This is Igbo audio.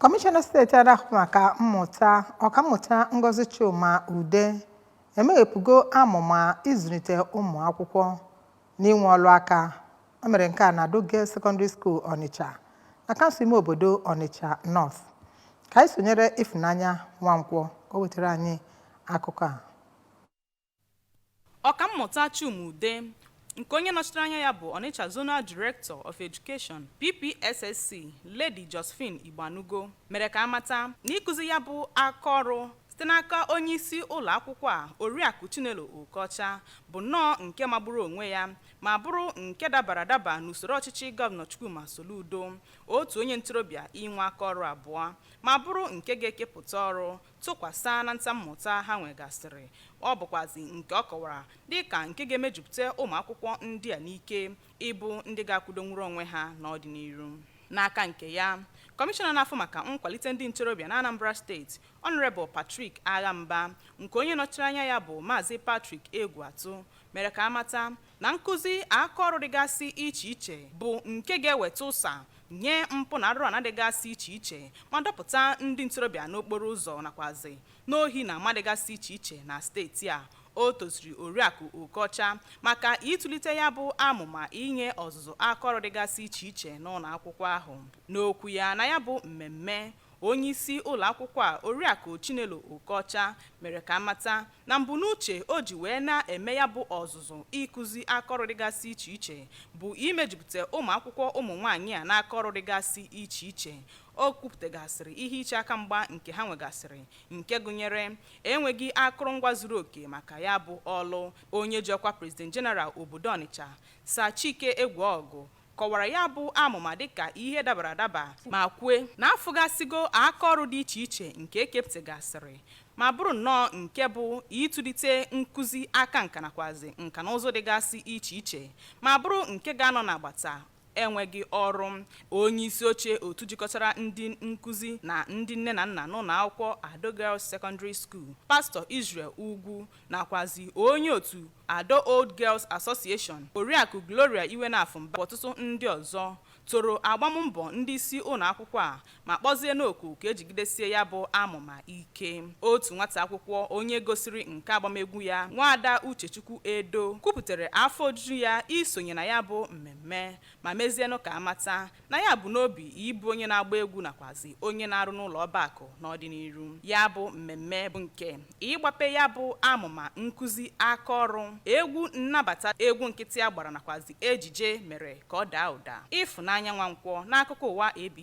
Kọmishọna steeti a na-ahụ maka mmụta ọkammụta Ngozi Chuma Ude emeghepụgo amụma ịzụlite ụmụ akwụkwọ n'inwe ọrụ aka o mere nke a na Ado Girls Secondary School Ọnịcha na kansụl ime obodo Ọnịcha North ka anyị sonyere Ifunanya Nwankwọ ka o wetara anyị akụkọ a Ọkammụta Chuma Ude nke onye nọchitere anya ya bụ Onitsha Zonal Director of Education, PPSSC, Lady Josephine Igbanugo, mere ka a mata na ịkụzi ya bụ aka ọrụ site n'aka onyeisi ụlọ akwụkwọ a, Oriakụ Chinelo Okọcha, bụ nnọọ nke magburu onwe ya ma bụrụ nke dabara adaba n'usoro ọchịchị Gọvanọ Chukwuma Soludo, otu onye ntorobịa inwe aka ọrụ abụọ ma bụrụ nke ga-ekepụta ọrụ tụkwasa na ntammụta ha nwegasịrị, ọ bụkwazi nke ọ kọwara dịka nke ga-emejupụta ụmụakwụkwọ ndị a n'ike ịbụ ndị ga-akwụdonwuru onwe ha n'ọdịnihu. N'aka nke ya, Kọmishọna na-afụ maka nkwalite ndị ntorobịa n'Anambra steeti, Honourable Patrick Agha Mba, nke onye nọchiri anya ya bụ Maazị Patrick Egwuatụ, mere ka a mata na nkụzi aka ọrụ dịgasị iche iche bụ nke ga-eweta ụsa nye mpụ na arụrụala dịgasị iche iche ma dọpụta ndị ntorobịa n'okporo ụzọ nakwazi n'ohi na ama dịgasị iche iche na steeti a o toziri oriakụ Okọcha maka ịtụlite ya bụ amụma inye ọzụzụ aka ọrụ dịgasị iche iche n'ụlọ akwụkwọ ahụ n'okwu ya na ya bụ mmemme Onyeisi ụlọakwụkwọ a, Oriakụ Chinelo Okọcha mere ka a mata na mbunuche o ji wee na-eme ya bụ ọzụzụ ịkụzi akaọrụ dịgasị iche iche bụ imejupụta ụmụakwụkwọ ụmụnwaanyị a n'akaọrụ dịgasị iche iche. O kwupụtagasịrị ihe iche aka mgba nke ha nwegasịrị nke gụnyere enweghị akụrụngwa zuru oke maka ya bụ ọlụ. Onye ji ọkwa President General obodo Ọnịcha, Sir Chike Ekweogwu kọwara ya bụ amụma dịka ihe dabara adaba ma kwue na a fụgasịgo aka ọrụ dị iche iche nke e kepụtagasịrị ma bụrụ nnọọ nke bụ ịtụlite nkụzi aka nka nakwazi nka na ụzụ dịgasị iche iche ma bụrụ nke ga-anọ n'agbata enweghị ọrụ onye isi oche otu jikọtara ndị nkụzi na ndị nne na nna n'ụlọ akwụkwọ Ado Girls Secondary School pastọ Israel Ugwu nakwazi onye otu Ado Old Girls Association Oriakụ Gloria Iwenofu Mba ọtụtụ ndị ọzọ toro agbammbọ ndị isi ụlọ akwụkwọ a ma kpọzienụ oku ka e jigidesie ya bụ amụma ike otu nwata akwụkwọ onye gosiri nke agbamegwu ya nwaada Uchechukwu Edo kwupụtara afọ ojuju ya isonye na ya bụ mmemme ma mezienụ ka a mata na ya bu n'obi ịbụ onye na-agba egwu nakwazi onye na-arụ n'ụlọ ọba akụ n'ọdịnihu ya bụ mmemme bụ nke ịgbape ya bụ amụma nkụzi aka ọrụ egwu nnabata egwu nkịtị a gbara nakwazi ejije mere ka ọ daa ụda Ifunanya Nwankwọ n'akụkọ ụwa ABS